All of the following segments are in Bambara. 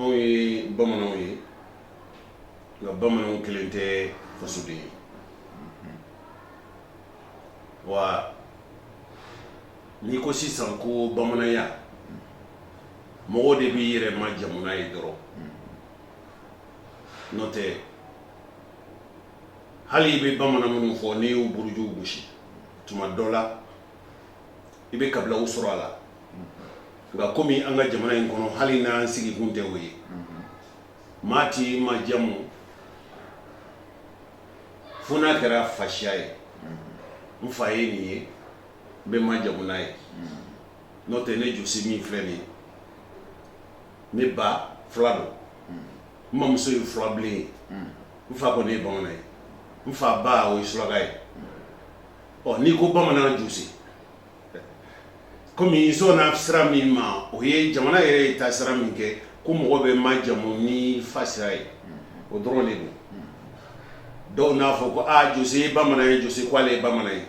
anw ye bamananw ye nka bamananw kelen tɛ fasoden ye wa n'i ko sisan ko bamananya mɔgɔ de b'i yɛrɛ majamu n'a ye dɔrɔn n'o tɛ hali i bɛ bamanan minnu fɔ n'i y'u burujuw gosi tuma dɔ la i bɛ kabilaw sɔrɔ a la nka kɔmi an ka jamana in kɔnɔ hali n'an sigikun tɛ o ye maa t'i majamu fo n'a kɛra fasiya ye n fa ye nin ye n bɛ majamu n'a ye n'o tɛ ne jose min filɛ nin ye ne ba fula don n mamuso ye fulabilen ye n fa ko ne ye bamanan ye n fa ba o ye suraka ye ɔ n'i ko bamanan jose kɔmi i sɔnna sira min ma o ye jamana yɛrɛ ye taasira min kɛ ko mɔgɔ bɛ majamu ni fa sira ye o dɔrɔn de don dɔw n'a fɔ ko aa jose ye bamanan ye jose k'ale ye bamanan ye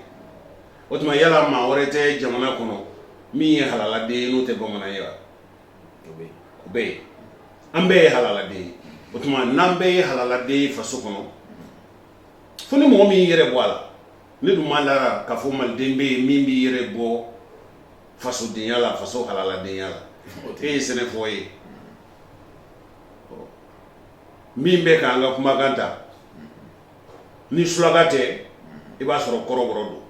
o tuma yala maa wɛrɛ tɛ jamana kɔnɔ min ye halaladen ye n'o tɛ bamanan ye u bɛ yen an bɛɛ ye halaladen ye o tuma n'an bɛɛ ye halaladen ye faso kɔnɔ fo ni mɔgɔ min yɛrɛ bɔ a la ne dun ma la a ra ka fɔ maliden bɛ yen min b'i yɛrɛ bɔ fasodenya la faso halaladenya la e ye sɛnɛfɔ ye min bɛ k'an ka kumakan ta ni sulaka tɛ i b'a sɔrɔ kɔrɔbɔrɔ don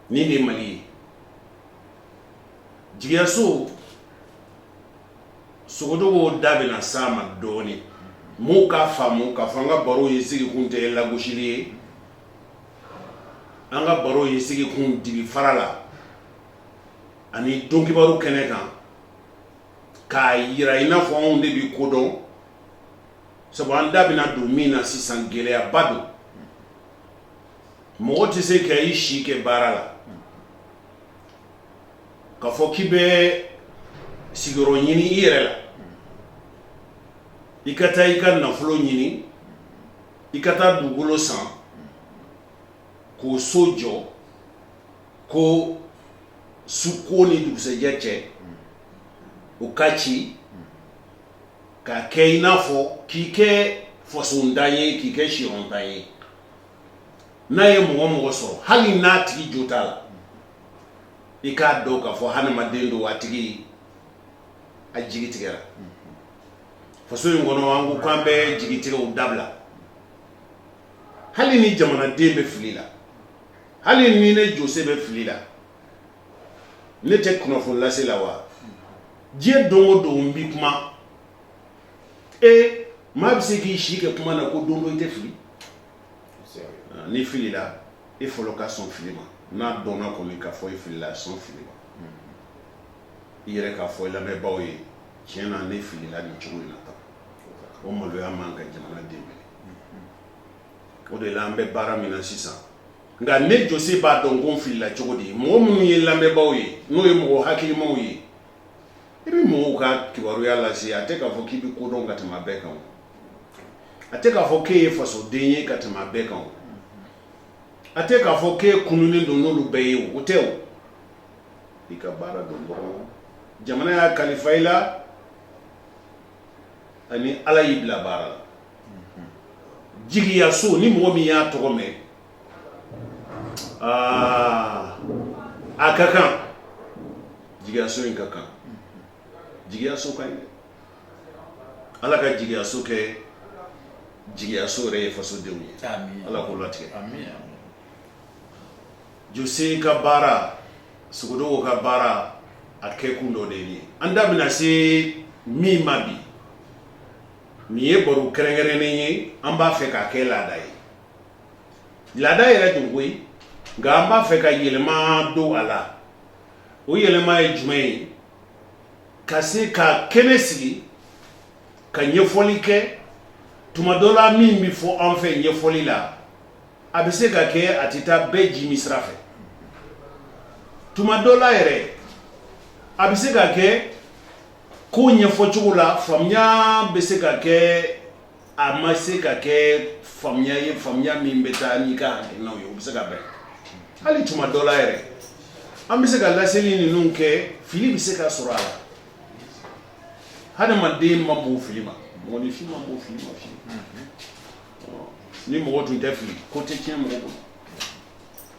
nin de mali ye jigiyaso sogocogo da bɛna s'a ma dɔɔnin mɔgɔw k'a faamu ka fɔ an ka baro ye sigikun tɛ lagosili ye an ka baro ye sigikun dibi fara la ani don kibaru kɛnɛ kan k'a jira in n'a fɔ anw de bɛ ko dɔn sabu an da bɛna don min na sisan gɛlɛyaba don mɔgɔ tɛ se ka i si kɛ baara la ka fɔ k'i bɛ sigiyɔrɔ ɲini i yɛrɛ la i ka taa i ka nafolo ɲini i ka taa dugukolo san k'o so jɔ ko suko ni dugusɛjɛ cɛ o k'a ci k'a kɛ i n'a fɔ k'i kɛ fasontan ye k'i kɛ siyɔrɔntan ye n'a ye mɔgɔ o mɔgɔ sɔrɔ hali n'a tigi jo t'a la i k'a dɔn k'a fɔ hadamaden don a tigi a jigi tigɛra faso in kɔnɔ an ko k'an bɛ jigitigɛw dabila hali ni jamanaden bɛ fili la hali ni ne jose bɛ fili la ne tɛ kunnafoni lase la wa diɲɛ don o don n bɛ kuma e maa bɛ se k'i si kɛ kuma na ko don dɔ i tɛ fili ah, n'i filila i fɔlɔ ka sɔn fili ma n'a dɔnna kɔni k'a fɔ i filila sɔn fili ma mm-hmm. i yɛrɛ k'a fɔ i lamɛnbaaw ye tiɲɛ na ne filila nin cogo in na tan o maloya man ka jamanaden minɛ mm-hmm. o de la an bɛ baara min na sisan nka ne jose b'a dɔn ko n filila cogo di mɔgɔ minnu ye lamɛnbaaw ye n'o ye mɔgɔ hakilimaw ye i bɛ mɔgɔw ka kibaruya lase a tɛ k'a fɔ k'i bɛ ko dɔn ka tɛmɛ bɛɛ kan a tɛ k'a fɔ k'e ye fasoden ye ka tɛmɛ bɛɛ kan a tɛ k'a fɔ k'e kununnen don n'olu bɛɛ ye o tɛ o i ka baara don dɔrɔn jamana y'a kalifa i la ani ala y'i bila baara la jigiyaso ni mɔgɔ min y'a tɔgɔ mɛn aa a ka kan jigiyaso in ka kan jigiyaso ka ɲi dɛ ala ka jigiyaso kɛ jigiyaso yɛrɛ ye fasodenw ye Amin. ala k'o latigɛ Amin. jose ka baara sogodogo ka baara a kɛkun dɔ de ye nin ye an da bɛna se min ma bi nin ye baro kɛrɛnkɛrɛnnen ye an b'a fɛ k'a kɛ laada ye laada yɛrɛ don koyi nka an b'a fɛ ka yɛlɛma don a la o yɛlɛma ye jumɛn ye ka se ka kɛnɛ sigi ka ɲɛfɔli kɛ tuma dɔ la min bɛ fɔ an fɛ ɲɛfɔli la a bɛ se ka kɛ a tɛ taa bɛɛ jiminsira fɛ tuma dɔ la yɛrɛ a bɛ se ka kɛ ko ɲɛfɔcogo la faamuya bɛ se ka kɛ a ma se ka kɛ faamuya ye faamuya min bɛ taa n'i ka hakilinaw ye o bɛ se ka bɛn hali tuma dɔ la yɛrɛ an bɛ se ka laseli ninnu kɛ fili bɛ se ka sɔrɔ a la hadamaden ma bɔ fili ma mɔgɔninfin ma bɔ fili ma fili ni mɔgɔ tun tɛ fili ko tɛ tiɲɛ mɔgɔ bolo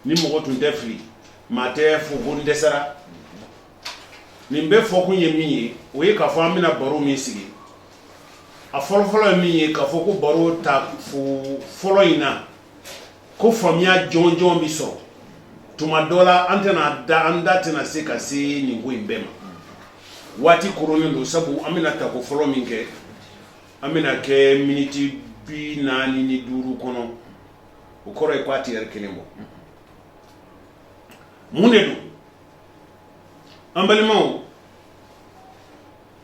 ni mɔgɔ tun tɛ fili maa t'a fɔ ko n dɛsɛra nin bɛ fɔ kun ye min ye o ye k'a fɔ an bɛna baro min sigi a fɔlɔfɔlɔ ye min ye k'a fɔ ko baro tako fɔlɔ in na ko faamuya jɔnjɔn bɛ sɔrɔ tuma dɔ la an tɛna da an da tɛna se ka se nin ko in bɛɛ ma waati koronnen don sabu an bɛna tako fɔlɔ min kɛ an bɛna kɛ miniti bi naani ni duuru kɔnɔ o kɔrɔ ye k'a tɛ lɛri kelen bɔ mun de don an balimaw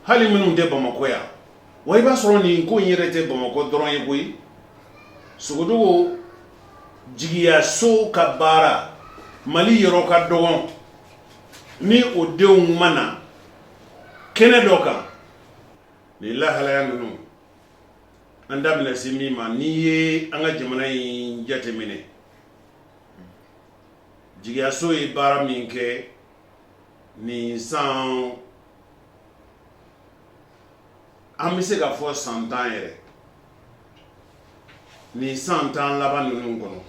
hali minnu tɛ bamakɔ yan wa i b'a sɔrɔ nin ko in yɛrɛ tɛ bamakɔ dɔrɔn ye koyi sogodogo jigiyaso ka baara mali yɔrɔ ka dɔgɔn ni o denw ma na kɛnɛ dɔ kan nin lahalaya ninnu an da bɛna se min ma n'i ye an ka jamana in jateminɛ jigiyaso ye baara min kɛ nin san an bɛ se k'a fɔ san tan yɛrɛ nin san tan laban ninnu kɔnɔ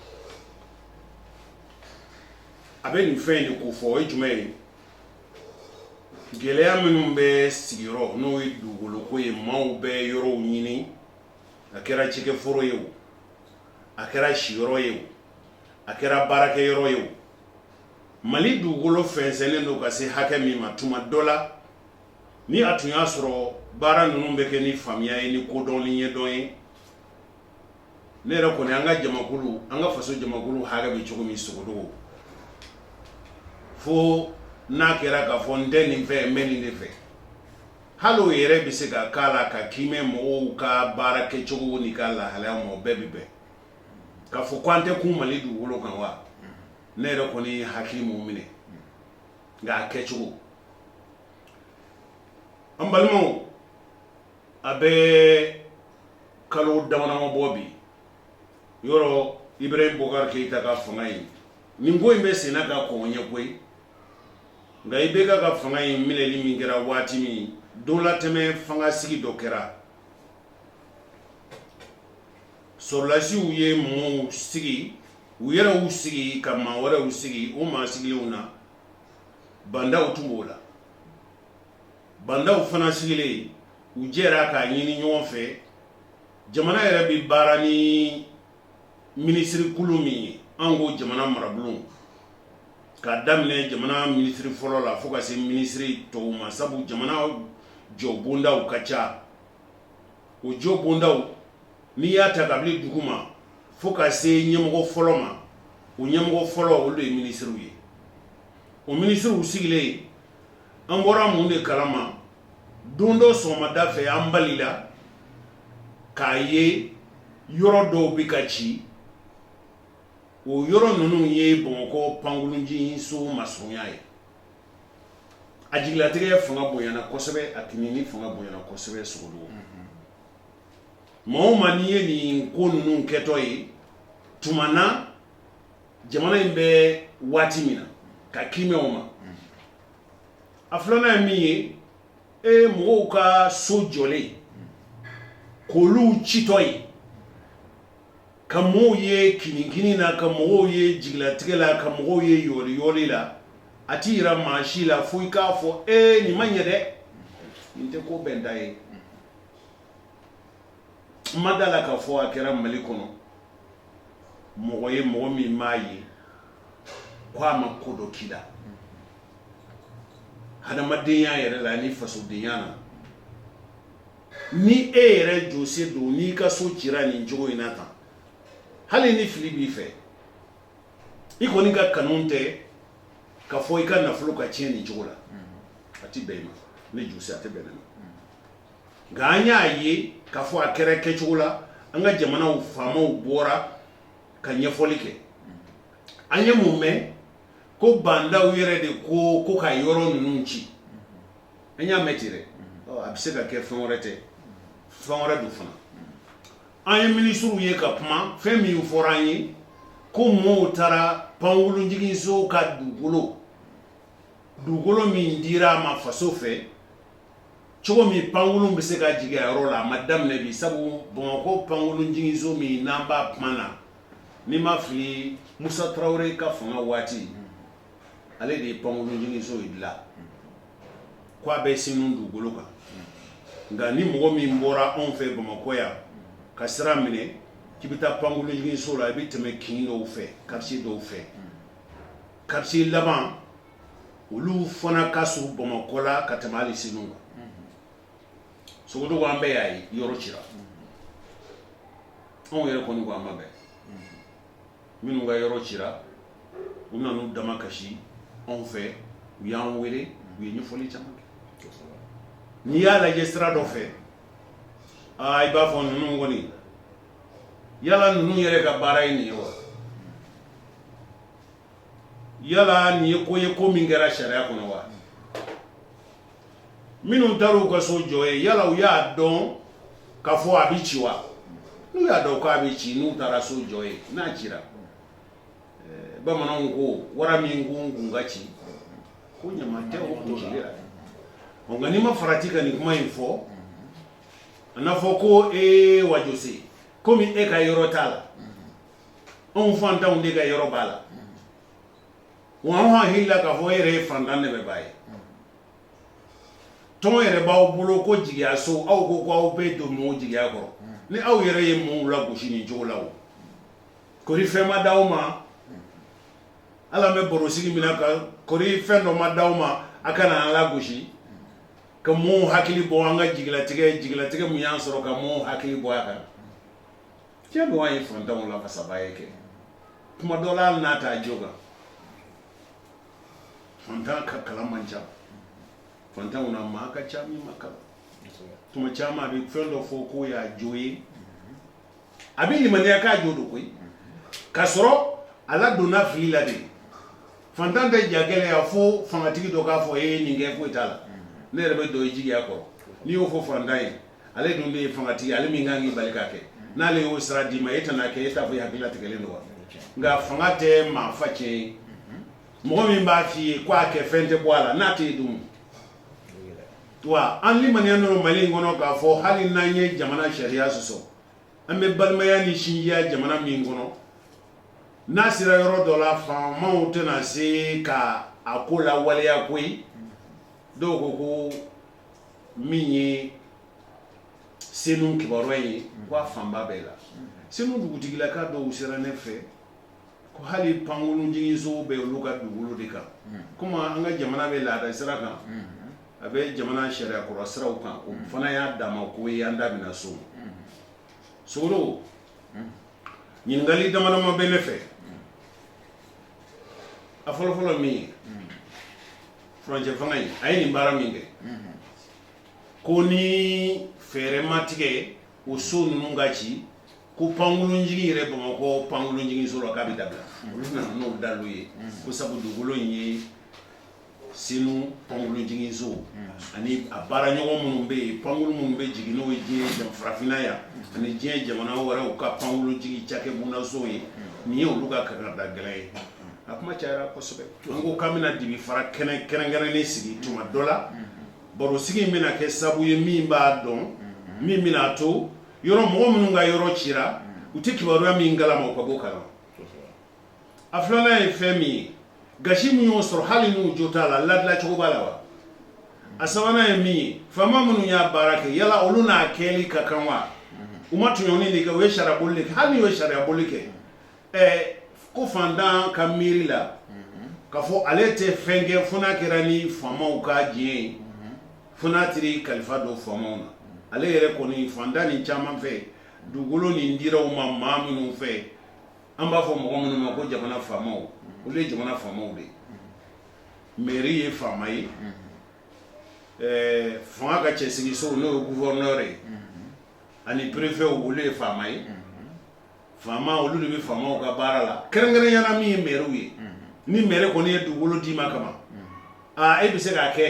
a bɛ nin fɛn in de kofɔ o ye jumɛn ye gɛlɛya minnu bɛ sigiyɔrɔ n'o ye dugukolo ko ye maaw bɛ yɔrɔw ɲini a kɛra cikɛforo ye o a kɛra siyɔrɔ ye o a kɛra baarakɛyɔrɔ ye mali dugukolo fɛnsɛnnen don ka se hakɛ min ma tuma dɔ la ni a tun y'a sɔrɔ baara ninnu bɛ kɛ ni faamuya ye ni kodɔn ni ɲɛdɔn ye ne yɛrɛ kɔni an ka jamakulu an ka faso jamakulu hakɛ bɛ cogo min sogo fo n'a kɛra k'a fɔ n tɛ nin fɛ n bɛ nin de fɛ hali o yɛrɛ bɛ se k'a la ka kiimɛ mɔgɔw ka baarakɛcogo n'u ka lahalaya maa bɛɛ bɛ bɛn k'a fɔ ko an tɛ kun mali dugukolo kan wa ne yɛrɛ kɔni hakili m'o minɛ nka a kɛcogo an balimaw a bɛ kalo damanama bɔ bi yɔrɔ ibrahim bubakari keyita ka fanga in nin ko in bɛ senna ka kɔn ɲɛ koyi nka ibeka ka fanga in minɛli min kɛra waati min don latɛmɛ fanga sigi dɔ kɛra Sɔrɔdasiw ye mɔgɔw sigi u yɛrɛ sigi ka maa wɛrɛw sigi o maa sigilenw na ba ndaw tun b'o la ba ndaw fana sigilen u jɛra k'a ɲini ɲɔgɔn fɛ jamana yɛrɛ bɛ baara ni minisirikulu min ye an ko jamana marabulon k'a daminɛ jamana minisiri fɔlɔ la fo ka se minisiri tɔw ma sabu jamana jɔbondaw ka ca o jo bonda n'i y'a ta kabini duguma fo ka se ɲɛmɔgɔ fɔlɔ ma u ɲɛmɔgɔ fɔlɔ olu de ye minisiriw ye o minisiriw sigilen yen an bɔra mun de kalama don dɔ sɔgɔmada fɛ an balila k'a ye yɔrɔ dɔw bɛ ka ci o yɔrɔ ninnu ye bamakɔ pankurunjiginso masurunya ye a jigilatigɛ fanga bonyana kosɛbɛ a kininkini fanga bonyana kosɛbɛ sogodogo maa ma n'i ye nin ko ninnu kɛtɔ ye tuma na jamana in bɛ waati min na ka kimɛw ma a filanan ye min ye e mɔgɔw ka so jɔlen k'olu citɔ ye ka mɔgɔw ye kininkini na ka mɔgɔw ye jigilatigɛ la ka mɔgɔw ye yɔriyɔli la a t'i jira maa si la fo i k'a fɔ e nin ma ɲɛ dɛ nin tɛ ko bɛnta ye n ma da a la k'a fɔ a kɛra mali kɔnɔ mɔgɔ ye mɔgɔ min maa ye ko a ma ko dɔ k'i la adamadenya yɛrɛ la ni fasodenya na Ni e yɛrɛ jose don n'i ka so cira nin cogo in na tan hali ni fili b'i fɛ i kɔni ka kanu tɛ k'a fɔ i ka nafolo ka tiɲɛ nin cogo la a tɛ bɛn i ma ne jose a tɛ bɛn ne ma nka an y'a ye k'a fɔ a kɛra kɛcogo la an ka jamanaw faamaw bɔra ka ɲɛfɔli kɛ an ye mun mɛn ko bandaw yɛrɛ de ko ko ka yɔrɔ ninnu ci an y'a mɛn ten dɛ a bɛ se ka kɛ fɛn wɛrɛ tɛ fɛn wɛrɛ don fana an ye minisiriw ye ka kuma fɛn min fɔra an ye ko mɔɔw taara panwulunjiginso ka dugukolo dugukolo min dira a ma faso fɛ cogo min panwulun bɛ se ka jigin a yɔrɔ la a ma daminɛ bi sabu Bamakɔ panwulunjiginso min n'an b'a kuma na ni n ma fili Musa Tarawele ka fanga waati ale de ye pankurunjiginso in dilan k'a bɛ senu dugukolo kan nka ni mɔgɔ min bɔra anw fɛ bamakɔ yan ka sira minɛ k'i bɛ taa pankurunjiginso la i bɛ tɛmɛ kin dɔw fɛ kartiye dɔw fɛ kartiye laban olu fana ka surun bamakɔ la ka tɛmɛ ali senu kan sogodogo an bɛɛ y'a ye yɔrɔ cira anw yɛrɛ kɔni ko an ma bɛɛ minnu ka yɔrɔ cira u nana u damakasi anw fɛ u y'an wele u ye ɲɛfɔli caman kɛ n'i y'a lajɛ sira dɔ fɛ aa i b'a fɔ ninnu kɔni yala ninnu yɛrɛ ka baara ye nin ye wa yala nin ye ko ye ko min kɛra sariya kɔnɔ wa minnu taara u ka so jɔ yen yala u y'a dɔn k'a fɔ a bɛ ci wa n'u y'a dɔn k'a bɛ ci n'u taara so jɔ yen n'a cira eh, bamananw ko wara min ko kun ka ci ko ɲama tɛ o kun ci la ɔ nka n'i ma farati ka nin kuma in fɔ a n'a fɔ ko ee wajose komi e ka yɔrɔ t'a la anw fantanw de ka yɔrɔ b'a la Wa anw hakili la k'a fɔ e yɛrɛ ye fantan dɛmɛbaa ye, tɔn yɛrɛ b'aw bolo ko jigiya so aw ko ko aw bɛ don mɔɔw jigiya kɔrɔ, ni aw yɛrɛ ye mɔɔw lagosi nin cogo la o, kɔri fɛn ma d'aw ma, hali an bɛ barosigi min na ka kɔri fɛn dɔ ma d'aw ma a kana an lagosi, ka mɔɔw hakili bɔ an ka jigilatigɛ jigilatigɛ min y'an sɔrɔ ka mɔɔw hakili bɔ a kan Tiɲɛ don n ye fantanw lafasabaa ye kɛ tuma dɔ n'a taa jo kan fantan ka kalan man ca fantanw na maa ka ca min ma kalan tuma caman a bɛ fɛn dɔ fɔ k'o y'a jo ye a b'a ɲɛ na k'a jo don koyi ka sɔrɔ ala donna n'a filila de fantan bɛ ja gɛlɛya yan fo fangatigi dɔ k'a fɔ e ye nin kɛ foyi t'a la ne yɛrɛ bɛ don jigiya kɔrɔ n'i y'o fɔ fantan ye ale dun bɛ ye fangatigi ale min kan k'i bali ka kɛ n'ale y'o sira d'i ma e tɛna kɛ e t'a fɔ i hakililatigɛlen don wa nka fanga tɛ maa fa cɛ ye mɔgɔ min b'a f'i ye ko a kɛ fɛn tɛ bɔ a la n'a tɛ yen dun wa an limaniyalen don mali in kɔnɔ k'a fɔ hali n'an ye jamana sariya sɔsɔ an bɛ balimaya ni sinjiya jamana min kɔnɔ n'a sera yɔrɔ dɔ la faamaw tɛna se ka a ko la waleya koyi dɔw ko ko min ye senu kibaruya ye ko a fanba bɛɛ la senu dugutigilaka dɔw sera ne fɛ ko hali pankolonjiginso bɛ olu ka dugukolo de kan komi an ka jamana bɛ laada sira kan a bɛ jamana sariya kura siraw kan o fana y'a danma ko ye an da bɛna se o ma sogolon ɲininkali damadama bɛ ne fɛ a fɔlɔfɔlɔ min ye furancɛ fanga in a ye nin baara min kɛ ko ni fɛɛrɛ ma tigɛ o so ninnu ka ci ko pankolonjigin yɛrɛ bamakɔ pankolonjiginso la k'a bɛ dabila olu nana n'o dalu ye ko sabu dugukolo in ye senu pankolonjiginso ani a baara ɲɔgɔn minnu bɛ yen pankolon minnu bɛ jigin n'o ye diɲɛ jan farafinna yan ani diɲɛ jamana wɛrɛw ka pankolonjigin cakɛ bondaso ye nin ye olu ka kankarida gɛlɛn ye a kuma cayara kosɛbɛ an ko k'an bɛna dibi fara kɛnɛ kɛrɛnkɛrɛnnen sigi tuma dɔ la baro sigi in bɛna kɛ sabu ye min b'a dɔn min bɛna a to yɔrɔ mɔgɔ minnu ka yɔrɔ cira u tɛ kibaruya min kalama u ka bɔ kalama a filanan ye fɛn min ye gasi min y'u sɔrɔ hali n'u jo t'a la ladilan cogo b'a la wa a sabanan ye min ye faama minnu y'a baara kɛ yala olu n'a kɛli ka kan wa u ma tɔɲɔni de kɛ u ye sariya boli de kɛ hali n'u ye sariya boli kɛ Ɛɛ ko fantan ka miiri la k'a fɔ ale tɛ fɛn kɛ fo n'a kɛra ni faamaw ka diɲɛ ye fo n'a teri kalifa don faamaw na ale yɛrɛ kɔni fantannin caman fɛ dugukolo nin dira u ma maa minnu fɛ an b'a fɔ mɔgɔ minnu ma ko jamana faamaw olu ye jamana faamaw de mɛri ye faama ye ɛɛ fanga ka cɛ sigiso n'o ye gufɛrɛnɛri ani perefɛw olu ye faama ye faama olu de bɛ faamaw ka baara la kɛrɛnkɛrɛnyana min ye mɛriw ye ni mɛri kɔni ye dugukolo d'i ma kama aa e bɛ se k'a kɛ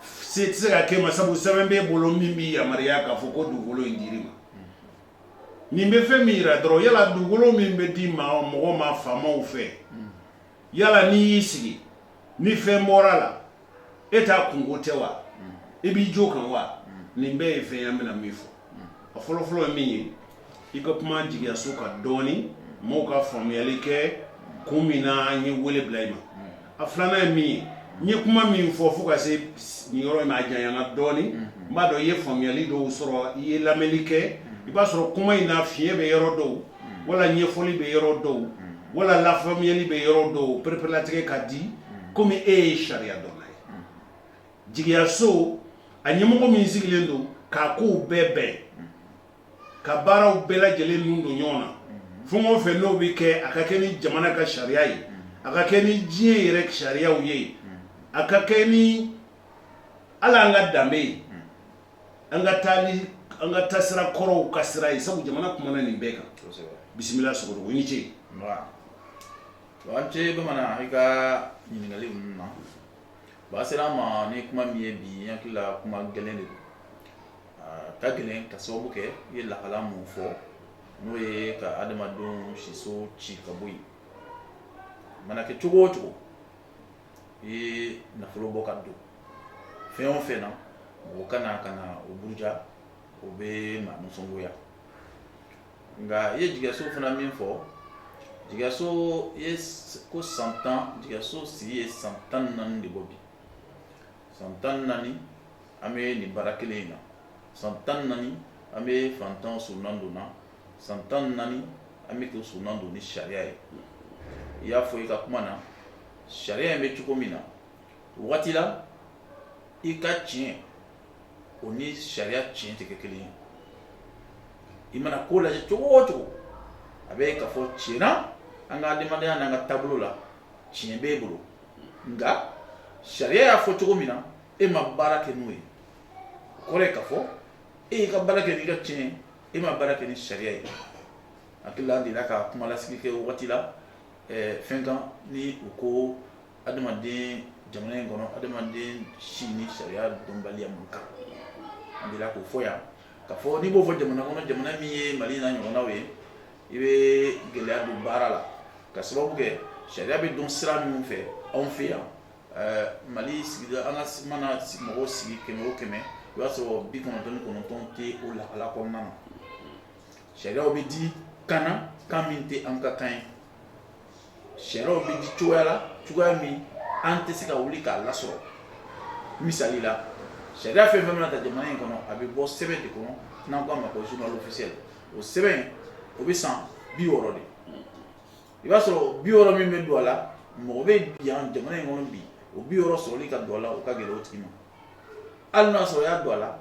se tɛ se ka kɛ ma sabu sɛbɛn b'i bolo min b'i yamaruya k'a fɔ ko dugukolo in dir'i ma nin bɛ fɛn min jira dɔrɔn yala dugukolo min bɛ di mɔgɔ ma faamaw fɛ yala n'i y'i sigi ni fɛn bɔra a la e ta kunko tɛ wa i b'i jo kan wa nin bɛɛ ye fɛn ye an bɛna min fɔ a fɔlɔfɔlɔ ye min ye i ka kuma jigiyaso kan dɔɔnin mɔgɔw ka faamuyali kɛ kun min na an ye wele bila i ma a filanan ye min ye n ye kuma min fɔ fo ka se nin yɔrɔ in na a janyana dɔɔnin n b'a dɔn i ye faamuyali dɔw sɔrɔ i ye lamɛnli kɛ i b'a sɔrɔ kuma in na fiɲɛ bɛ yɔrɔ dɔw wala ɲɛfɔli bɛ yɔrɔ dɔw wala lafamuyali bɛ yɔrɔ dɔw pereperelatigɛ ka di komi e ye sariyadɔnna ye jigiyaso a ɲɛmɔgɔ min sigilen don k'a kow bɛɛ bɛn ka baaraw bɛɛ lajɛlen ninnu don ɲɔgɔn na fɛn kɔ fɛ n'o bɛ kɛ a ka kɛ ni jamana ka sariya ye a ka kɛ ni diɲɛ yɛrɛ sariyaw ye a ka kɛ ni ala an ka danbe ye an ka taa ni an ka taasira kɔrɔw ka sira ye sabu jamana kuma nin bɛɛ kan bisimila Sogodogo i ni ce an cɛ bamanan i ka ɲininkali ɲumanba sera an ma ni kuma min ye bi hakili la kuma gɛlɛn de don ka gɛlɛn k'a sababu kɛ i ye lahala min fɔ n'o ye ka adamadenw siso ci ka bɔ yen mana kɛ cogo o cogo i ye nafolo bɔ ka don fɛn o fɛn na mɔgɔ ka na ka na o buruja o bɛ maa nisɔngoya nka i ye jigiyaso fana min fɔ jigiyaso i ye ko san tan jigiyaso sigi ye san tan ni naani de bɔ bi san tan ni naani an bɛ nin baara kelen in na san tan ni naani an bɛ fantan surunan don na san tan ni naani an bɛ kɛ surunan don ni sariya ye i y'a fɔ i ka kuma na sariya in bɛ cogo min na wagati la i ka tiɲɛ o ni sariya tiɲɛ tɛ kɛ kelen ye i mana ko lajɛ cogo o cogo a bɛ ka fɔ tiɲɛ na an ka adamadenya n'an ka taabolo la tiɲɛ bɛ i bolo nka sariya y'a fɔ cogo min na e ma baara kɛ n'o ye o kɔrɔ ye ka fɔ e y'i ka baara kɛ n'i ka tiɲɛ e ma baara kɛ ni sariya ye hakili an delila ka kumalasigi kɛ wagati la fɛn kan ni u ko adamaden jamana in kɔnɔ adamaden si ni sariya dɔnbaliya man kan an dela k'o fɔ yan ka fɔ n'i b'o fɔ jamana kɔnɔ jamana min ye mali n'a ɲɔgɔnnaw ye i bɛ gɛlɛya don baara la ka sababu kɛ sariya bɛ dɔn sira minnu fɛ anw fɛ yan mali sigida an ka mana mɔgɔw sigi kɛmɛ o kɛmɛ i b'a sɔrɔ bi kɔnɔntɔn ni kɔnɔntɔn tɛ o lahala kɔnɔna na Sariyaw bɛ di kan na kan min tɛ an ka kan ye sariyaw bɛ di cogoya la cogoya min an tɛ se ka wuli k'a lasɔrɔ misali la sariya fɛn o fɛn mana ta jamana in kɔnɔ a bɛ bɔ sɛbɛn de kɔnɔ n'an k'a ma ko journal officiel o sɛbɛn o bɛ san bi wɔɔrɔ de i b'a sɔrɔ bi wɔɔrɔ min bɛ don a la mɔgɔ bɛ yan jamana in kɔnɔ bi o bi wɔɔrɔ sɔrɔli ka don a la o ka gɛlɛn o tigi ma hali n'a sɔrɔ y'a don a la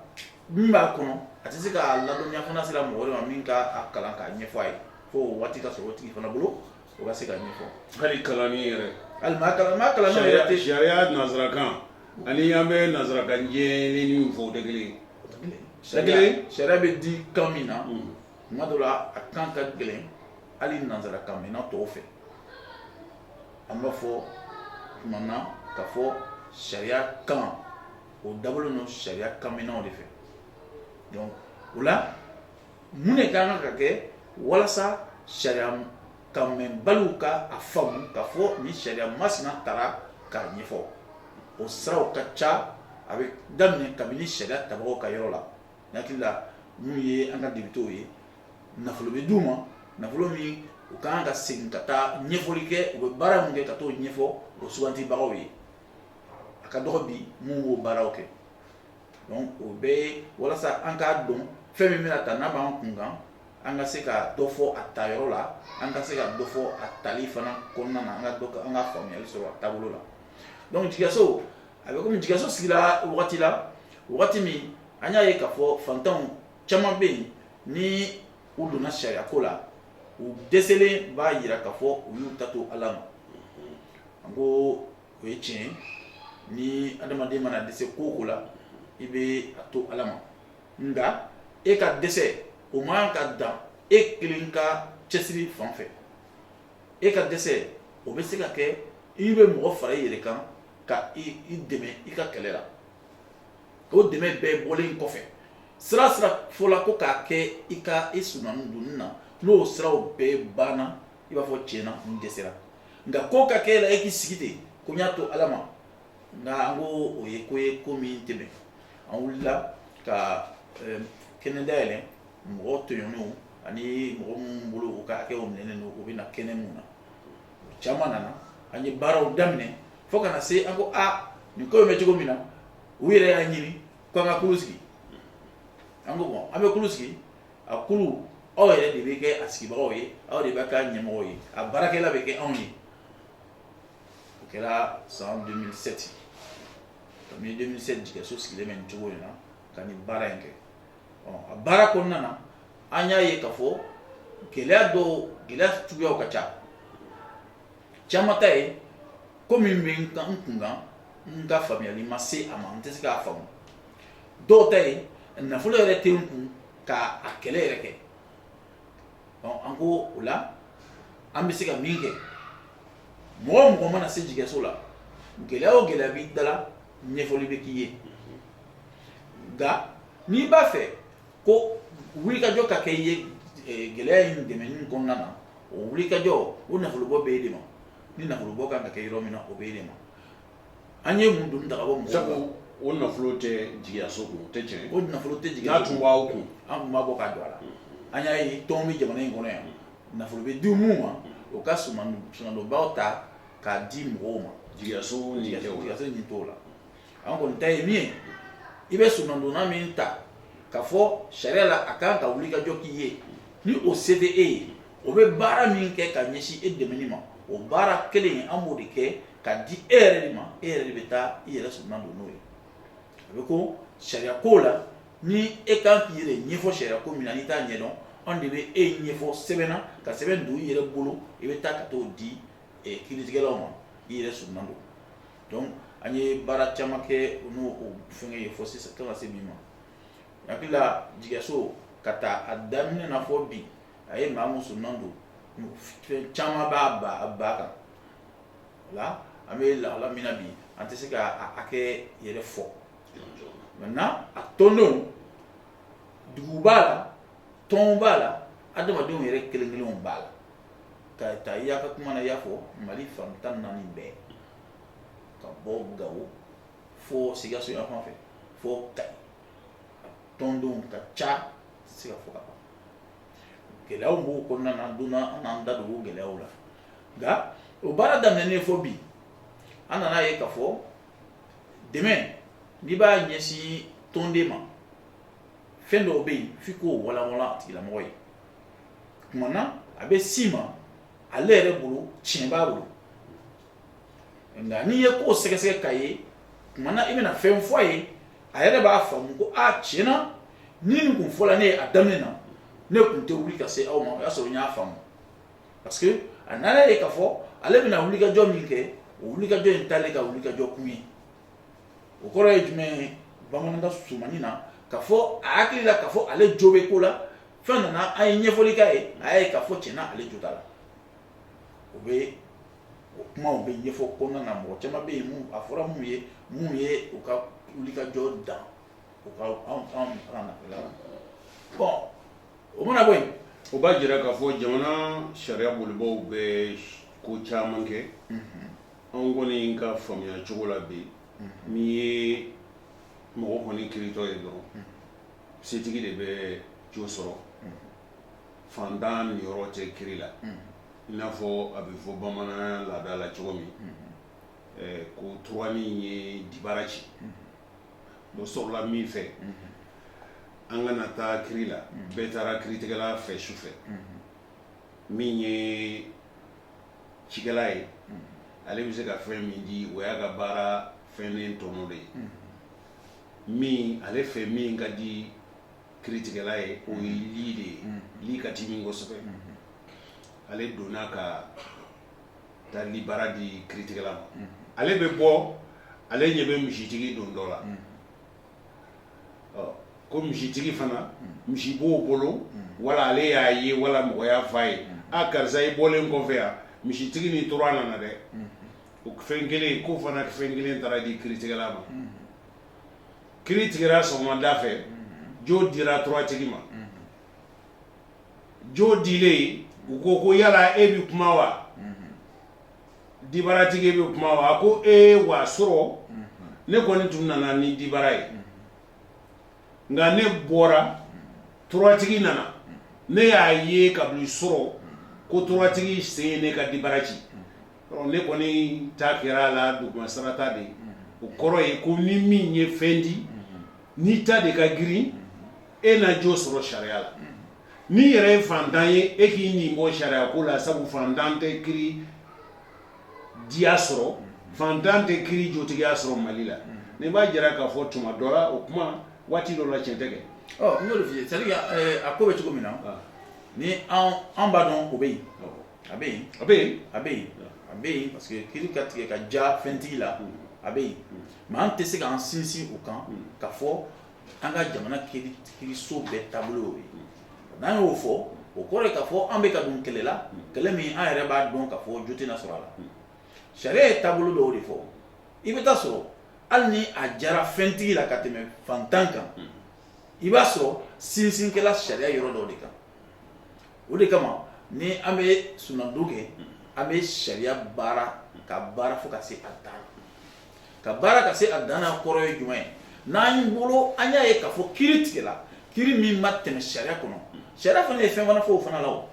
min b'a kɔnɔ a tɛ se k'a ladɔnya fo n'a sera mɔgɔ de ma min k'a kalan k'a ɲɛfɔ a ye fo waati ka sɔrɔ o tigi fana bolo o ka se k'a ɲɛfɔ hali kalanni yɛrɛ hali maa kalan maa kalan yɛrɛ tɛ sariya nanzarakan ani an bɛ nanzarakan jɛlen min fɔ o tɛ kelen sariya bɛ di kan min na kuma dɔ la a kan ka gɛlɛn hali nanzarakanmɛnna tɔw fɛ an b'a fɔ tuma na ka fɔ sariya kan o dabɔlen don sariya kanmɛnnaw de fɛ donc o la mun de ka kan ka kɛ walasa sariya kanmɛnbaliw ka a faamu ka fɔ ni sariya masina tara k'a ɲɛfɔ o siraw ka ca a bɛ daminɛ kabini sariya tabagaw ka yɔrɔ la hakili la minnu ye an ka depitew ye nafolo bɛ d'u ma nafolo min u ka kan ka segin ka taa ɲɛfɔli kɛ u bɛ baara min kɛ ka t'o ɲɛfɔ u sugandibagaw ye a ka dɔgɔ bi minnu b'o baaraw kɛ donc o bɛɛ ye walasa an k'a dɔn fɛn min bɛna ta n'a b'an kun kan an ka se ka dɔ fɔ a ta yɔrɔ la an ka se ka dɔ fɔ a tali fana kɔnɔna na an ka dɔ an ka faamuyali sɔrɔ a taabolo la donc jigiyaso a bɛ komi jigiyaso sigira wagati la wagati min an y'a ye k'a fɔ fantanw caman bɛ yen ni u donna sariyako la u dɛsɛlen b'a jira k'a fɔ u y'u ta to ala ma an ko o ye tiɲɛ ni adamaden mana dɛsɛ ko o ko la i bɛ a to ala ma nka e ka dɛsɛ o man kan ka dan e kelen ka cɛsiri fan fɛ e ka dɛsɛ o bɛ se ka kɛ i bɛ mɔgɔ fara i yɛrɛ kan ka i dɛmɛ i ka kɛlɛ la o dɛmɛ bɛɛ bɔlen kɔfɛ sira sira fɔla ko k'a kɛ i ka i soronadonni na n'o siraw bɛɛ banna i b'a fɔ tiɲɛna n dɛsɛra nka ko ka kɛ i la e k'i sigi ten ko n y'a to ala ma nka an ko o ye ko ye ko min tɛ bɛn an wulila ka eh, kɛnɛ dayɛlɛ mɔgɔ tɔɲɔnenw ani mɔgɔ minnu bolo u ka hakɛw minɛnen don u bɛ na kɛnɛ min na Caman nana an ye baaraw daminɛ fo ka na se an ko aa nin ko bɛ cogo min na u yɛrɛ y'a ɲini ko an ka kulu sigi an ko bon an bɛ kulu sigi a kulu aw yɛrɛ de bɛ kɛ a sigibagaw ye aw de bɛ k'a ɲɛmɔgɔ ye a baarakɛla bɛ kɛ anw ye o kɛra san deux mille sept ka deux mille sept jigiyaso sigilen bɛ nin cogo in na ka nin baara in kɛ a baara kɔnɔna na an y'a ye k'a fɔ gɛlɛya dɔw gɛlɛya suguyaw ka ca caman ta ye ko min bɛ n kan n kun kan n ka faamuyali ma se a ma n tɛ se k'a faamu dɔw ta ye nafolo yɛrɛ tɛ n kun ka a kɛlɛ yɛrɛ kɛ an ko o la an bɛ se ka min kɛ mɔgɔ o mɔgɔ mana se jigiyaso la gɛlɛya o gɛlɛya b'i da la ɲɛfɔli bɛ k'i ye nka n'i b'a fɛ ko wulikajɔ ka kɛ i ye eh, gɛlɛya in dɛmɛni kɔnɔna na o wulikajɔ o nafolobɔ bɛ e de ma ni nafolobɔ kan ka kɛ yɔrɔ min na o bɛ e de ma an ye mun doni ta ka bɔ mɔgɔw sabu kan o nafolo tɛ jigiyaso kun o tɛ tiɲɛ ye. o nafolo tɛ jigiya n'a tun b'an kun an tun b'a bɔ k'a don a la an y'a ye tɔn bɛ jamana in kɔnɔ yan nafolo bɛ di min ma o ka soron- soronadonbaaw ta k'a di mɔgɔw ma jigiyaso ni tɛ o la jigiyaso ni t'o la an kɔni ta ye min ye i bɛ sonnadonna min ta k'a fɔ sariya la a kan ka wulikajɔ k'i ye ni o se tɛ e ye o bɛ baara min kɛ ka ɲɛsin e dɛmɛni ma o baara kelen an b'o de kɛ k'a di e yɛrɛ de ma e yɛrɛ de bɛ taa i yɛrɛ sonna don n'o ye a bɛ ko sariya ko la ni e kan k'i yɛrɛ ɲɛfɔ sariya ko min na n'i t'a ɲɛdɔn an de bɛ e ɲɛfɔ sɛbɛnna ka sɛbɛn don i yɛrɛ bolo i bɛ taa ka t'o di eh, kiritigɛlaw ma i yɛrɛ sonna don donc an ye baara caman kɛ u n'o fɛn ye fo sisan ka se min ma hakilila jigso ka taa a daminɛ na fɔ bi a ye maa mun sonna don caman b'a ba ba kan wala an bɛ lala min na bi an tɛ se k'a hakɛ yɛrɛ fɔ nka a tɔndenw dugu b'a la tɔn b'a la adamadenw yɛrɛ kelen kelenw b'a la ka taa i y'a ka kuma na i y'a fɔ mali fan tan ni naani bɛɛ ka bɔ gawo fo sikaso yan fan fɛ fo kayi a tɔndenw ka ca tɛ se ka fɔ ka ban gɛlɛyaw b'o kɔnɔna na donna an n'an da don o gɛlɛyaw la nka o baara daminɛnen fo bi an nana ye k'a fɔ dɛmɛ n'i b'a ɲɛsin tɔnden ma fɛn dɔw bɛ yen f'i k'o walanwalan a tigilamɔgɔ ye tuma na a bɛ si ma ale yɛrɛ bolo tiɲɛ b'a bolo nka n'i ye ko sɛgɛsɛgɛ k'a ye tuma na i bɛna fɛn fɔ a ye a yɛrɛ b'a faamu ko a tiɲɛ na ni nin kun fɔla ne ye a daminɛ na ne tun tɛ wuli ka se aw ma o y'a sɔrɔ n y'a faamu parce que a nana ye k'a fɔ ale bɛna wulikajɔ min kɛ o wulikajɔ in t'ale ka wulikajɔ kun ye o kɔrɔ ye jumɛn ye bamanankan surumanin na k'a fɔ a hakili la k'a fɔ ale jo bɛ ko la f'a nana an ye ɲɛfɔli k'a ye a y'a ye k'a fɔ tiɲɛ na ale jo t'a la o bɛ o kumaw bɛ ɲɛfɔ kɔnɔna na mɔgɔ caman bɛ yen mun a fɔra mun ye mun ye u ka wulikajɔ dan u ka anw anw ka nafolo la bɔn o mana bɔ yen o b'a jira k'a fɔ jamana sariya bolibaaw bɛ ko caman kɛ anw kɔni ka faamuya cogo la bi n'i ye mɔgɔ kɔni kiritɔ ye dɔrɔn setigi de bɛ jo sɔrɔ faantan niyɔrɔ tɛ kiri la i n'a fɔ a bɛ fɔ bamanan laada la cogo min ko tura min ye dibara ci o sɔrɔla min fɛ an kana taa kiri la bɛɛ taara kiritigɛla fɛ su fɛ min ye cikɛla ye ale bɛ se ka fɛn min di o y'a ka baara fɛnnin tɔnɔ de ye min ale fɛ min ka di kiritigɛla ye o ye li de ye li ka di min kosɛbɛ ale donna ka taa li bara di kiritigɛla ma ale bɛ bɔ ale ɲɛ bɛ misitigi dontɔ la ko misitigi fana misi b'o bolo wala ale y'a ye wala mɔgɔ y'a fɔ a ye a karisa i bɔlen kɔfɛ yan misitigi ni tura nana dɛ O fɛn kelen ko fana fɛn kelen taara di kiritigɛla ma kiri tigɛra sɔgɔmada fɛ jo dira turatigi ma jo dilen u ko ko yala e bɛ kuma wa dibaratigi bɛ kuma wa ko e wa sɔrɔ ne kɔni tun nana ni dibara ye nka ne bɔra turatigi nana ne y'a ye ka sɔrɔ ko turatigi sen ye ne ka dibara ci Ne kɔni ta kɛra a la dugumasarata de o kɔrɔ ye ko ni min ye fɛn di n'i ta de ka girin e na jo sɔrɔ sariya la n'i yɛrɛ ye fantan ye e k'i nin bɔ sariya ko la sabu fantan tɛ kiri diya sɔrɔ fantan tɛ kiri jotigiya sɔrɔ mali la nin b'a jira k'a fɔ tuma dɔ o kuma waati dɔ la cɛn tɛ kɛ n'o ye a ko bɛ cogo min na ni an b'a dɔn o bɛ yen a bɛ yen a bɛ yen a bɛ yen a bɛ yen parce que kiri ka tigɛ ka ja fɛntigi la a bɛ yen mais an tɛ se k'an sinsin o kan k'a fɔ an ka jamana kiriso bɛɛ taabolo ye n'an y'o fɔ o kɔrɔ k'a fɔ an bɛ ka don kɛlɛ la kɛlɛ min an yɛrɛ b'a dɔn k'a fɔ jo tɛna sɔrɔ a la sariya ye taabolo dɔw de fɔ i bɛ taa sɔrɔ hali ni a jara fɛntigi la ka tɛmɛ fantan kan i b'a sɔrɔ sinsin kɛla sariya yɔrɔ dɔw de kan o de kama ni an bɛ sunandu kɛ an bɛ sariya baara ka baara fo ka se a dan ka baara ka se a dan kɔrɔ ye jumɛn ye n'an bolo an y'a ye k'a fɔ kiri tigɛla kiri min ma tɛmɛ sariya kɔnɔ sariya fana ye fɛn fana fɔ o fana la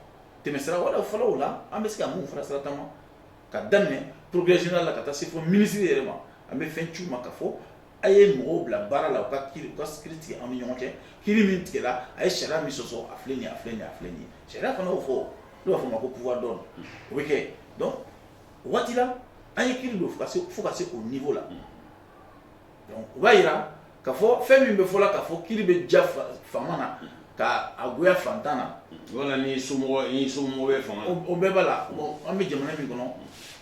tɛmɛsira wɛrɛ fɔlɔ la an bɛ se ka mun fara sira taama k'a daminɛ procureur général la ka taa se fo minisiri yɛrɛ ma an bɛ fɛn ci u ma k'a fɔ A ye mɔgɔw bila baara la u ka kiri ka sigi tigɛ an ni ɲɔgɔn cɛ kiri min tigɛla a ye sariya min sɔsɔ a filɛ a filɛ a filɛ ye sariya fana o fɔ b'a fɔ o ma ko pourvoi d'ordre o bɛ kɛ o waati la an ye kiri don fo ka se o niveau la o b'a jira k'a fɔ fɛn min bɛ fɔ la k'a fɔ kiri bɛ ja faama na ka a goya fantan na so so o bɛɛ b'a la an bɛ jamana min kɔnɔ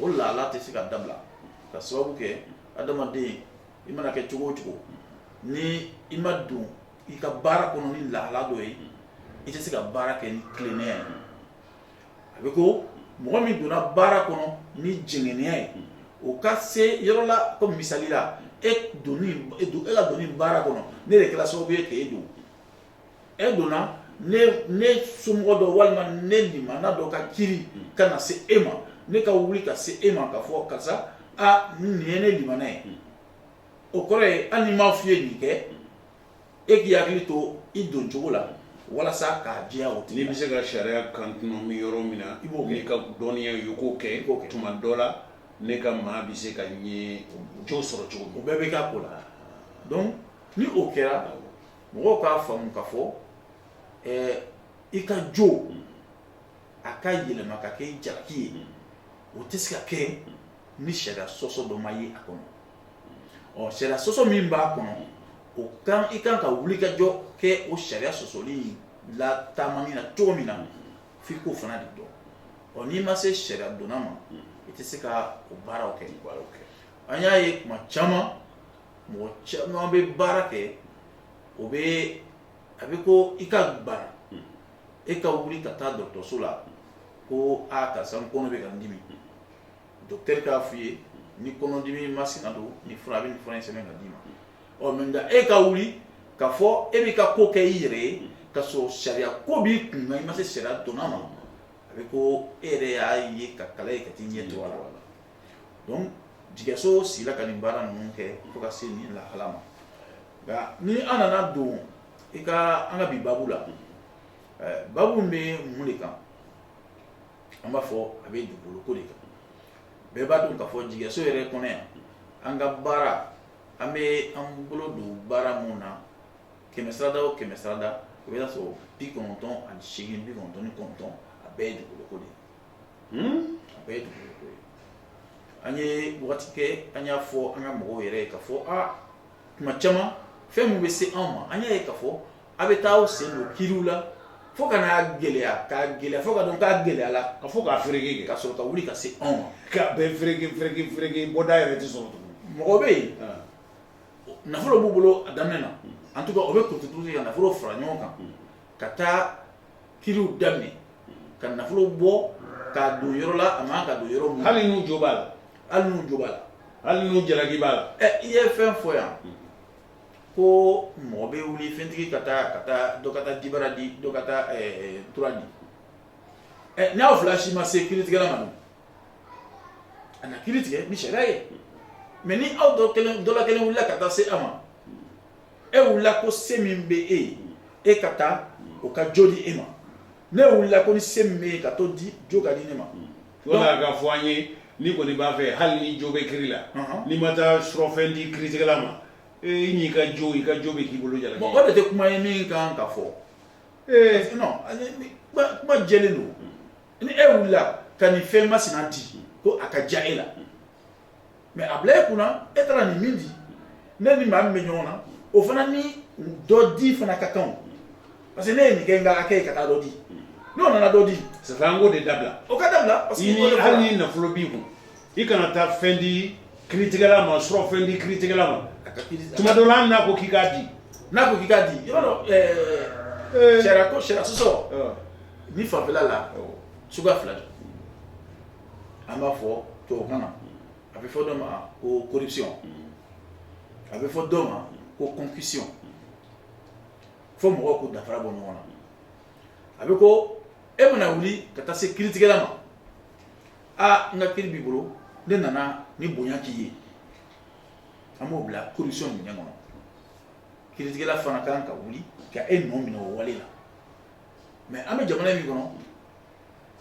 o laala tɛ se ka dabila ka sababu kɛ adamaden i mana kɛ cogo o cogo ni i ma don i ka baara kɔnɔ ni lahala dɔ ye i tɛ se ka baara kɛ ni tilennenya ye a bɛ ko mɔgɔ min donna baara kɔnɔ ni jɛngɛnenya ye o ka se yɔrɔ la comme misali la e donni e don e ka donni baara kɔnɔ ne de kɛra sababu ye k'e don e donna ne somɔgɔ dɔ walima ne limana dɔ ka kiri ka na se e ma ne ka wuli ka se e ma ka fɔ karisa a nin ye ne limana ye o kɔrɔ ye hali ni m'a f'i ye nin kɛ e k'i hakili to i don cogo la walasa k'a diya o tigi n'i bɛ se ka sariya contourner yɔrɔ min na i b'o kɛ ka dɔnniya ye i k'o kɛ k'o kɛ tuma dɔ la ne ka maa bɛ se ka ɲɛ jo sɔrɔ cogo min o bɛɛ bɛ k'a ko la donc ni o kɛra mɔgɔw k'a faamu ka fɔ ɛɛ i ka jo a ka yɛlɛma ka kɛ jalaki ye o tɛ se ka kɛ ni sariya sɔsɔ dɔ ma ye a kɔnɔ ɔ sariya sɔsɔ min b'a kɔnɔ o kan i kan ka wuli ka jɔ kɛ o sariya sɔsɔli la taamani na cogo min na f'i k'o fana de dɔn ɔ n'i ma se sariya dɔnna ma i tɛ se ka o baaraw kɛ an y'a ye tuma caman mɔgɔ caman bɛ baara kɛ o bɛ a bɛ ko i ka bana e ka wuli ka taa dɔgɔtɔrɔso la ko aa karisa n kɔnɔ bɛ ka n dimi dɔgɔtɔrɔ k'a f'i ye nin kɔnɔdimi masina don ni fura bɛ fura in sɛbɛn ka d'i ma ɔ mais nka e ka wuli ka fɔ e bɛ ka ko kɛ i yɛrɛ ye ka sɔrɔ sariya ko b'i kun i ma se sariya dɔnna ma a bɛ ko e yɛrɛ y'a ye ka kala ye ka t'i ɲɛ to a la donc jigiyɛso sigila ka nin baara ninnu kɛ fo ka se nin lahala ma nka ni an nana don i ka an ka bi babu la babu bɛ mun de kan an b'a fɔ a bɛ dugukolo ko de kan bɛɛ b'a dɔn k'a fɔ jigiyɛso yɛrɛ kɔnɔ yan an ka baara an bɛ an bolo don baara mun na kɛmɛ sarada o kɛmɛ sarada o bɛ sɔrɔ bi kɔnɔntɔn ani seegin bi kɔnɔntɔn ni kɔnɔntɔn a bɛɛ ye dugukolo ko de ye An ye waati kɛ an y'a fɔ an ka mɔgɔw yɛrɛ ye ka fɔ tuma caman fɛn minnu bɛ se anw ma an y'a ye ka fɔ a bɛ taa u sen don kiriw la fo ka na gɛlɛya ka gɛlɛya fo ka taa gɛlɛya ka fɔ k'a feere ka sɔrɔ ka wuli ka se anw bɔda yɛrɛ sɔrɔ mɔgɔ bɛ yen nafolo b'u bolo a daminɛ na en tout cas o bɛ kurutu nafolo fara ɲɔgɔn kan ka taa kiriw daminɛ ka nafolo bɔ ka don yɔrɔ la a man kan ka don yɔrɔ min hali n'u jo b'a la hali n'u jo b'a la hali n'u jalaki b'a la ɛ i ye fɛn fɔ yan ko mɔgɔ bɛ wuli fɛntigi ka taa ka taa dɔ ka taa dibara di dɔ ka taa tura di ɛ n'aw fila si ma se kiritigɛla ma dun a na kiri tigɛ ni sariya ye mɛ ni aw dɔ kelen dɔ la kelen wulila ka taa se a ma e wulila ko se min bɛ e ye e ka taa o ka jo di e ma ne wulila ko ni se min bɛ n ye ka t'o di jo ka di ne ma wala ka fɔ an ye ni kɔni b'a fɛ hali ni jo bɛ kiri la n'i ma taa surɔfɛn di kiritigɛla ma e n'i ka jo i ka jo bɛ k'i bolo jala o de tɛ kuma ye min kan ka fɔ ee kuma jɛlen don ni e wulila ka nin fɛn masina di ko a ka ja e la mɛ a bila e kunna e taara nin min di ne ni maa min bɛ ɲɔgɔn na o fana ni dɔ di fana ka kan parce que ne ye nin kɛ n ka kɛ ye ka taa dɔ di n'o nana dɔ di sisan an k'o de dabila o ka dabila parce que hali ni nafolo b'i kun i kana taa fɛn di kiritigɛla ma surɔfɛn di kiritigɛla ma tuma dɔ la n'a ko k'i k'a di n'a ko k'i k'a di i b'a dɔn eh. sariya ko sariya sɔsɔ ni fanfɛla la suguya fila don an b'a fɔ tubabukan na a bɛ fɔ dɔ ma ko corruption a bɛ fɔ dɔ ma ko concussion fo mɔgɔw k'u danfara bɔ ɲɔgɔn na a bɛ ko e mana wuli ka taa se kiritigɛla ma a n ka kiri b'i bolo ne nana nin bonya k'i ye an b'o bila corruption minɛn kɔnɔ kiritigɛla fana kan ka wuli ka e nɔ minɛ o wale la mɛ an bɛ jamana min kɔnɔ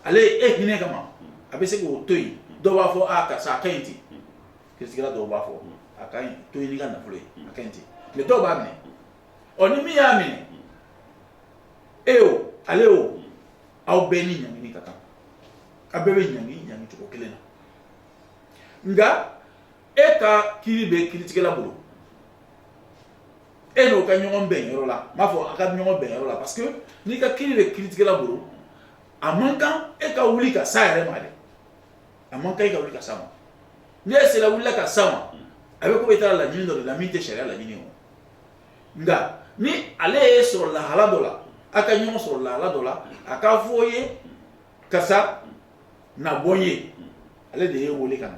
ale ye e hinɛ kama a bɛ se k'o to yen dɔw b'a fɔ a karisa a ka ɲi ten kiritigɛla dɔw b'a fɔ a k'i to yen n'i ka nafolo ye a ka ɲi ten mɛ dɔw b'a minɛ ɔ ni min y'a minɛ e o ale o aw bɛɛ ni ɲangini ka kan a bɛɛ bɛ ɲangi ɲangi cogo kelen na nka e ka kiri bɛ kiritigɛla bolo e n'o ka ɲɔgɔn bɛn yɔrɔ la n b'a fɔ a ka ɲɔgɔn bɛn yɔrɔ la parce que n'i ka kiri bɛ kiritigɛla bolo a man kan e ka wuli ka s'a yɛrɛ ma dɛ a man kan e ka wuli ka s'a ma ni e sera wulila ka s'a ma a bɛ komi e taara laɲini dɔ de la min tɛ sariya laɲini o nka ni ale y'i sɔrɔ lahala dɔ la a ka ɲɔgɔn sɔrɔ lahala dɔ la a k'a fɔ i ye karisa na bɔ ye ale de y'e weele ka na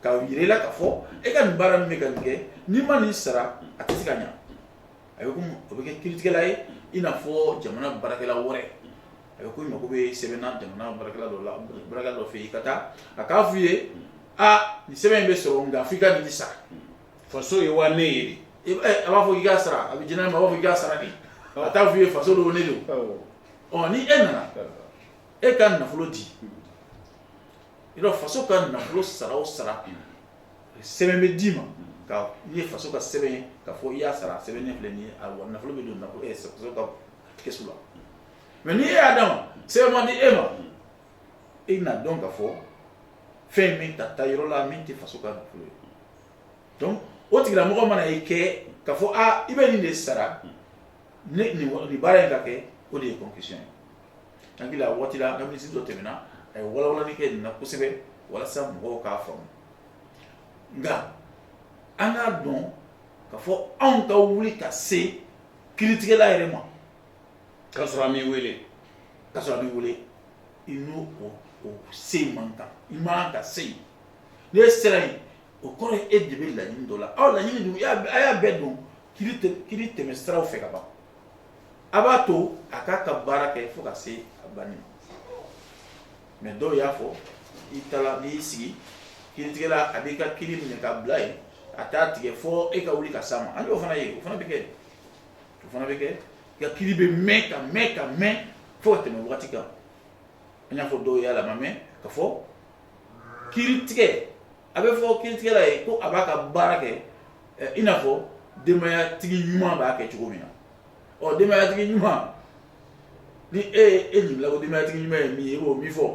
k'a jira i la ka fɔ e ka nin baara min bɛ ka nin kɛ n'i ma nin sara a tɛ se ka ɲɛ a bɛ o bɛ kɛ kiritigɛla ye i n'a fɔ jamana baarakɛla wɛrɛ a bɛ ko mako bɛ sɛbɛn na jamana baara dɔ la baara dɔ fɛ yen i ka taa a k'a f' i ye aa nin sɛbɛn in bɛ sɔrɔ nka f' i ka nin sara faso ye wa ne ye a b'a fɔ i ka sara a bɛ di ne ma b'a fɔ i ka sara de a t'a f' i ye faso don ne don ɔ ni e nana e ka nafolo di faso ka nafolo sara o sara sɛbɛn bɛ d'i ma ye faso ka sɛbɛn ka fɔ i y'a sara sɛbɛn ne filɛ ye a nafolo bɛ don nafolo ka kɛsu la mɛ n'i e y'a d'a ma sɛbɛn ma di e ma i n'a dɔn ka fɔ fɛn min ta taa yɔrɔ la min tɛ faso ka nafolo ye donc o tigilamɔgɔ mana ye kɛ ka fɔ aa i bɛ nin de sara ni baara in ka kɛ o de ye concussion ye Hakili la waati la an ka minisiri dɔ tɛmɛna a ye walawalanni kɛ nin na kosɛbɛ walasa mɔgɔw k'a faamu nka an k'a dɔn ka fɔ anw ka wuli ka se kiritigɛla yɛrɛ ma ka sɔrɔ a m'i wele ka sɔrɔ a m'i wele i n'o o se man kan i man kan ka se yen ni e sera yen o kɔrɔ ye e de bɛ laɲini dɔ la aw laɲini a y'a bɛɛ don kiri tɛmɛsiraw fɛ ka ban a b'a to a k'a ka baara kɛ fo ka se a banni ma mɛ dɔw y'a fɔ i taara n'i y'i sigi kiritigɛla a b'i ka kiri minɛ ka bila yen a t'a tigɛ fo e ka wuli ka s'a ma an y'o fana ye o fana bɛ kɛ o fana bɛ kɛ i ka kiri bɛ mɛn ka mɛn ka mɛn fo ka tɛmɛ wagati kan an y'a fɔ dɔw y'a la ma mɛn ka fɔ kiri tigɛ a bɛ fɔ kiritigɛla ye ko a b'a ka baara kɛ I n'a fɔ denbayatigi ɲuman b'a kɛ cogo min na ɔ denbayatigi ɲuman ni e ye n ɲininka denbayatigi ɲuman ye min ye oo min fɔ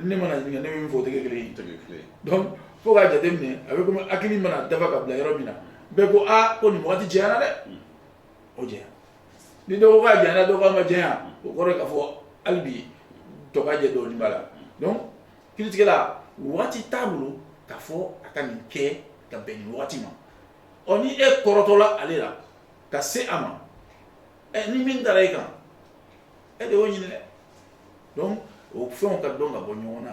ne mana ɲininka ne min fɔ o tɛ kɛ kelen ye donc fo ka jate minɛ a bɛ komi hakili mana dafa ka bila yɔrɔ min na bɛɛ ko aa ko nin waati janyana dɛ o janya ni dɔ ko a janyana dɔ ko a ma janya o kɔrɔ ka fɔ hali bi dɔgɔjɛ dɔn'a la kiritigɛla waati t'a bolo k'a fɔ a ka nin kɛ ka bɛn nin waati ma ɔ ni e kɔrɔtɔla ale la ka se a ma ɛ ni min dara e kan e de y'o ɲini dɛ donc o fɛnw ka dɔn ka bɔ ɲɔgɔn na